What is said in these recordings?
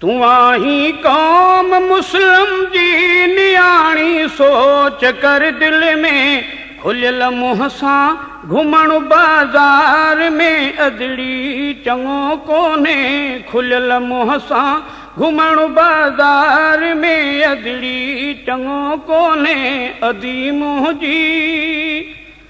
تون آهين قوم مسلم جي نياڻي سوچ ڪر دل ۾ کليل منهن سان گهمڻ بازار ۾ ادڙي چڱو ڪونهي کليل منهن سان گهمڻ بازار ۾ ادڙي چڱو ڪونهي ادي منهنجي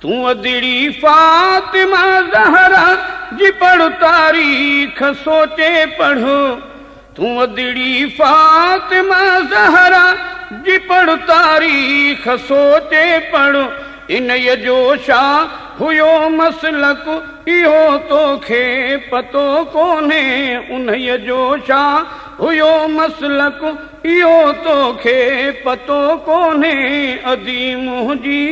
تون ادڙي فاطمه زهرا جي پڙهه تاريخ سوچي پڙهه تون ادڙي فاطمه زهرا جي پڙهه تاريخ سوچي پڙهه انهيء جو ڇا هيو مسلڪ اهو توکي پتو ڪونهي انهيء جو ڇا هيو مسلڪ اهو توکي پتو ڪونهي ادي منهنجي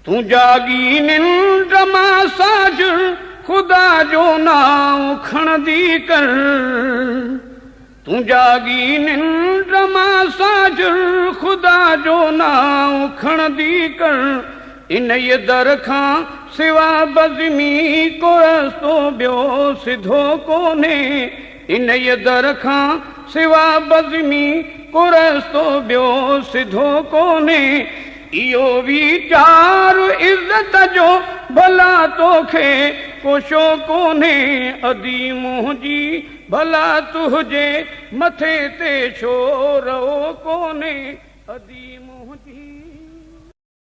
تون جاڳي ننڊ مان ساجر خدا جو نانء کڻندي ڪر تون جاڳي ننڊ مان ساجر خدا جو نانء کڻندي ڪر انهيء در کان سوا بزمي ڪو رستو ٻيو سڌو ڪونهي انهيء در کان سوا بزمي ڪو رستو ٻيو سڌو ڪونهي اهو ويچار عزت جو ڀلا توکي ڪو شو ڪونهي ادي منهنجي ڀلا تنهنجي مٿي تي شو رئو ڪونهي ادي منهنجي.